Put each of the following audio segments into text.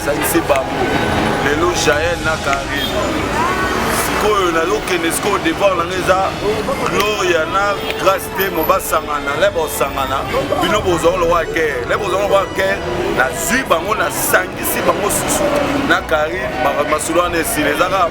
salise bango lelo jael na karin sikoyo nazokende sikoyo depart nanga eza gloria na grace temo basangana le bosangana bino bozwa lokola guerre le bozwa lokola guerre nazwi bango nasangisi bango susu na karine masolo wana esila eza kaka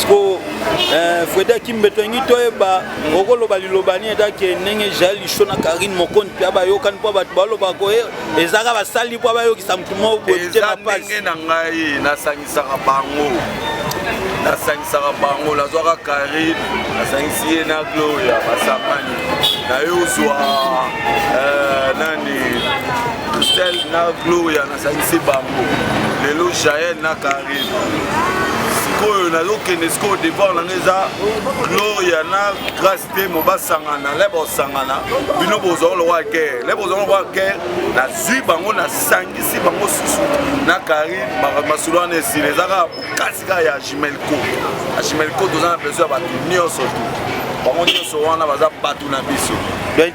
sikoyo eh, freda kimbeto yangi toyeba okoloba liloba nini etake ndenge jael lisho na karine mokondi mpe abayokani mpo bato baloba koye eh, ezaka basali mpo abayokisa motu moko boyeza ndenge na ngai nasangisaka bango nasangisaka bango nazwaka karine nasangisi ye na gloria basangani naye ozwa eh, nani sel na gloria salise bango lelo jael na karim sikoyo nazokende sikoyo depart nanga eza gloria na grace temo basangana le bosangana bino bozwa lokola guerre le bozwa lokola guerre nazwi bango nasangisi bango susu na karine masolo wana esila eza kaka bokasi kaka ya jimelco ya jimelco toza na besoin ya bato nyonso tu bango nyonso wana baza bato na biso donc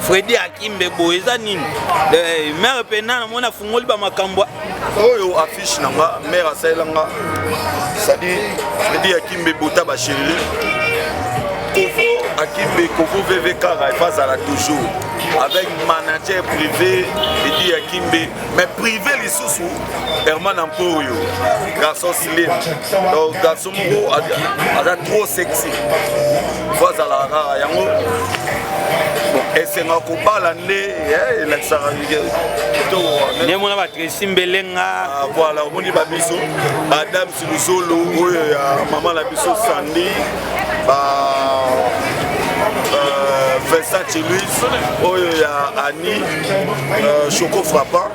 Freddy Akimbe boye eza nini eh, mère pena namoni afungoli bamakambo oyo affiche na nga mère asalela nga sadi Freddy Akimbe bota basheri kovo Akimbe kovo vv kara efa azala toujours avec manager privé Freddy Akimbe mais privé lisusu herman ampo oyo garçon slim donc garçon moko aza trop sexy fo azalaka kaka yango esenga kobala nde eh, elakisaka nde mona batresi mbelenga ah, voilà omoni babiso badame Luzolo oyo ya mama na biso Sandy ba euh, Versace Luis oyo ya Annie euh, Choco Frappant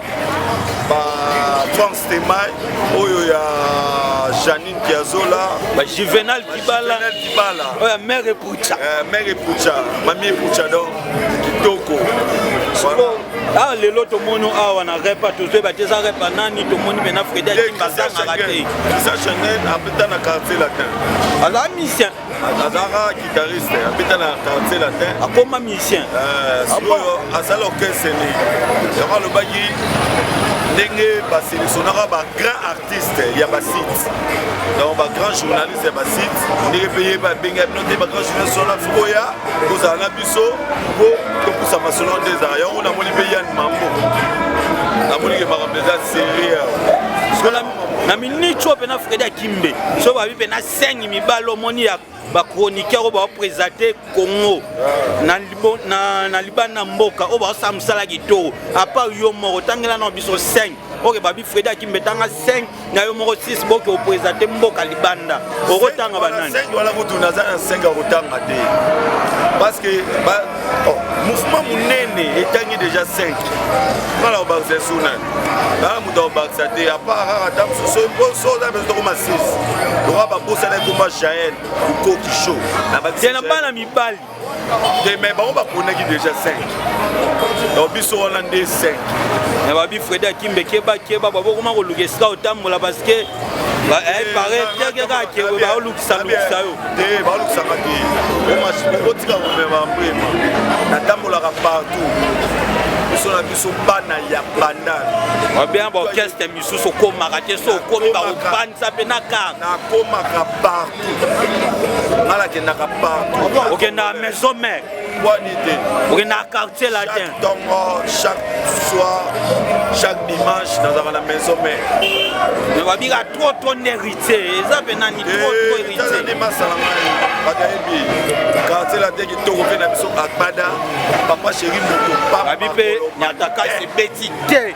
ba Frank Stemay oyo ya Janine Piazzola ba Juvenal Kibala Juvenel Kibala oyo ya mère Epucha euh, Mère Epucha Mamie Epucha donc kitoko awa ah, lelo tomoni awa na repa tozoyeba te eza repa nani tomoni pena fredi akimba azangaka te isa chanel abeta na quartier latin aza musicien azalaka guitariste abeta na quartier latin akoma musicien euh, sikoyo ah asala orchestre ni yango alobaki ndenge baselectionnaka bagrain artiste ya basite donc bagrand journaliste ya basite ndenge mpe ye babenga bino te bagrand journaliste wana koya kozala na biso mpo topusa masolo nde ezala yango namoni mpe yan mambo namoni ke makambo eza serieux na minute oyo mpe na fredi akimbe soki babi mpe na sengi mibale omoni ya ba chroniqueur oyo baopresente congo na libanda mboka oyo baosala mosala kitoko apart yo moko tangela na biso 5 oke babi fredi akimbe tanga 5 na yo moko 6 boke opresente mboka libanda okotanga banani wala kutu naza na 5 akotanga te parce que Oh, mouvement monene etangi déjà 5 ngala kobakisa esu nani aa moto akobakisa te apart kaka ta mosusu mposo oza mpenza tokoma 6 lokola babosana ekoma jael lukoki show te na bana mibali te mai bango baponaki déjà 5 donc biso wana nde 5 na babi fredi akimbe keba keba babokoma koluka esika otambola parce que baolukisaka te otika komema mbema natambolaka partout biso na biso bana ya bandal obien baorchestre misusu okomaka te so okomi bakopanisa mpe na kar nakomaka partout nga nakendaka partout okendaka maison mare bwani te okenda na quartier latin ntongo chaque soir chaque dimanche nazalaka na maison mère mais babika trop trop nde héritier eza mpe nani trop trop eh, héritier masala ngai bato ayebi quartier latin kitoko mpe na biso agbada papa chéri moto pababi mpe nyataka eh. ebeti te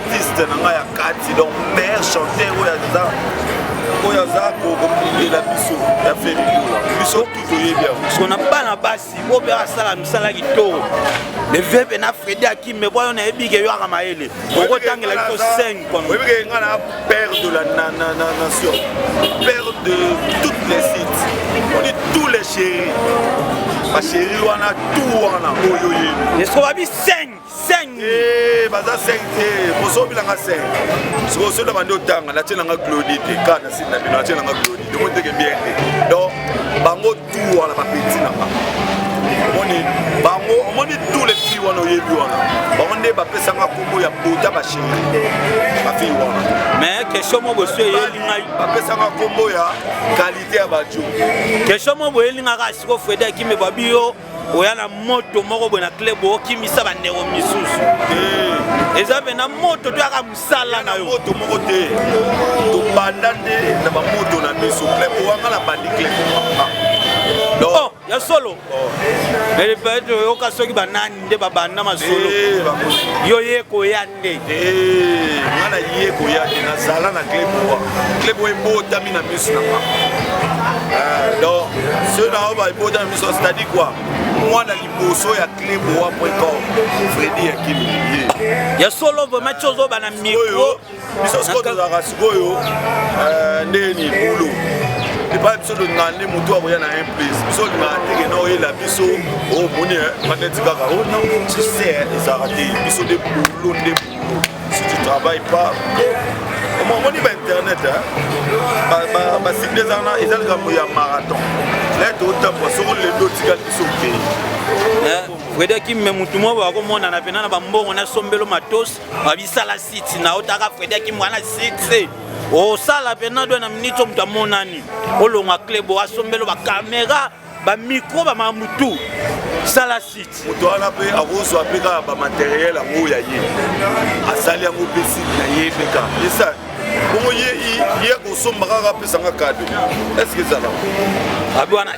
artiste na ngai ya kati donc meilleur chanteur oyo aza oyo aza kokundela biso ya ferikola biso tu toyebi yango parceke na bana basi oyo mpe asala misala kitoko levebe na fredi akime bwa yo nayebi ke yoaka mayele okotangela biso 5 oyebi ke ngai na père de la nation père de toutes les sites on dit tous les chéris bachéri wana tout wana oyo yebi eskobabi 5 seng eh, baza seng te kosobilanga seng sikoyo soki na bandi otanga natie nanga claudi te ka na sini na bino natie nanga claudi te moteke bien te donc bango tu wana bapeti na bango omoni bango omoni tous les filles wana oyebi wana bango nde bapesanga kombo ya bota basheri bafille wana mais question moko esi eyeli ngai bapesanga kombo ya kalite ya bajo question moko boyeli ngai kaka siko fredi akime babi yo oya na moto moko boye na club okimisa bandeko misusu eh. eza mpe na moto toyaka mosala na yo moto moko te tobanda nde na bamoto na biso club owanga na bandi club oh, ya solo epeto oh. oyoka soki banani nde babanda masolo eh, yo ye koya Eh, nga na ye koya te nazala na club owa club oyo ebotami na miso na nga eh, donc soki na oyo baebotami na miso c'est-à-dire quoi mwana liboso ya club owa precom fredi ya kimie ya solo vraimen cozoba na micro biso siko tozalaka sikoyo euh, ndenge nini bulu epai biso tolingaka nde motu akoya na un place biso olingaka ndenge na oyela biso omoni oh, maneti kaka o oh, non tu sais ezalaka te biso nde bulu nde bulu si tu travaille pas omoni ba internet basible ezalaka eza likambo ya marathon lete otambwa soko lelo otikali biso okei eh, fredi akime motu moko bakomonana mpena na bambongo na sombelo matos babisala site na otaka fredi akimwana site osala mpena dwe na miniti moto amonani olonga klebo asombelo bakamera bamikro bamamutu sala site moto wana mpe akozwa mpe kaka bamateriel yango ya ye asali yango mpe site na ye mpe ka esa bongo ye akosomba kaka apesanga kado eske ezala abi wana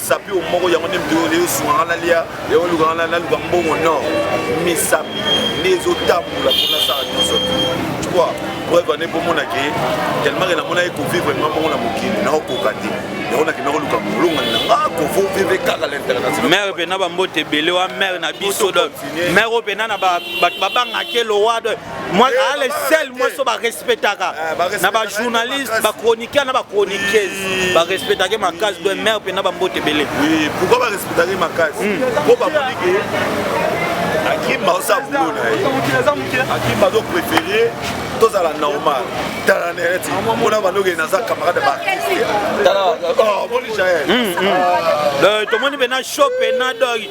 sapi o moko yango nde moto oyo leo sunga nga nalia yango luka nga naluka mbongo nord misapi nde ezotambola mpo nasala nyonso tu vois preuve ane bomona ke tellement ke namonaki kovivre nga bongo na mokili naokoka te yango nakenda koluka molongani na nga kovo vive kaka l'international mare mpena bambote ebele wa mare na biso mare oyo mpena na bato babangaki elowa Moi, eh, ah, les seuls moi so ba respectaka eh, na ba journalistes, ba chroniqueurs na ba chroniqueuses, ba respectaka makasi de mère pe na ba mbote belé. Oui, pourquoi ba respectaka makasi? Hmm. Po ba moni que Akim baosa boulot na ye. Akim bazo préférer tozala normal tala neti mpona bandoki naza camarade baartiste tala oh, omoni jael hmm, hmm. ah. euh, tomoni mpena show mpena doi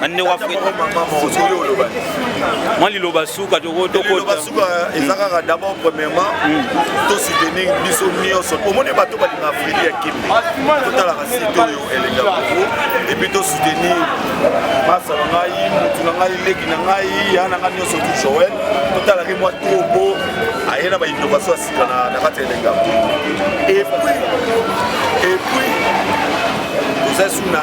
bande wa fete mwa liloba suka tokotokota eza kaka d'abord premièrement mm. to soutenir biso nyonso omoni bato balinga afrili ya kimbi totalaka site oyo elenga kongo epuis to soutenir masa na ngai motu na ngai leki na ngai ya na ngai nyonso tu joel totalaki mwa tobo aye na bainnovation ya sika na kati ya elenga kongo epuis epuis tozali suna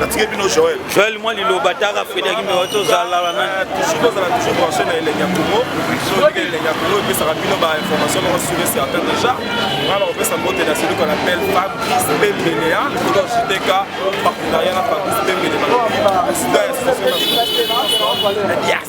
natike bino joel joel mwa liloba taka frederik mbewa tozala wana euh, toujours tozala toujours branche na elengi ya kongo soki elengi ya kongo epesaka bino bainformation moko sur et certain déjà nga nakopesa mbote na celui qu'on appelle fabrice pembelea likolo ya jtk partenariat na fabrice pembele na sida ya situation na dias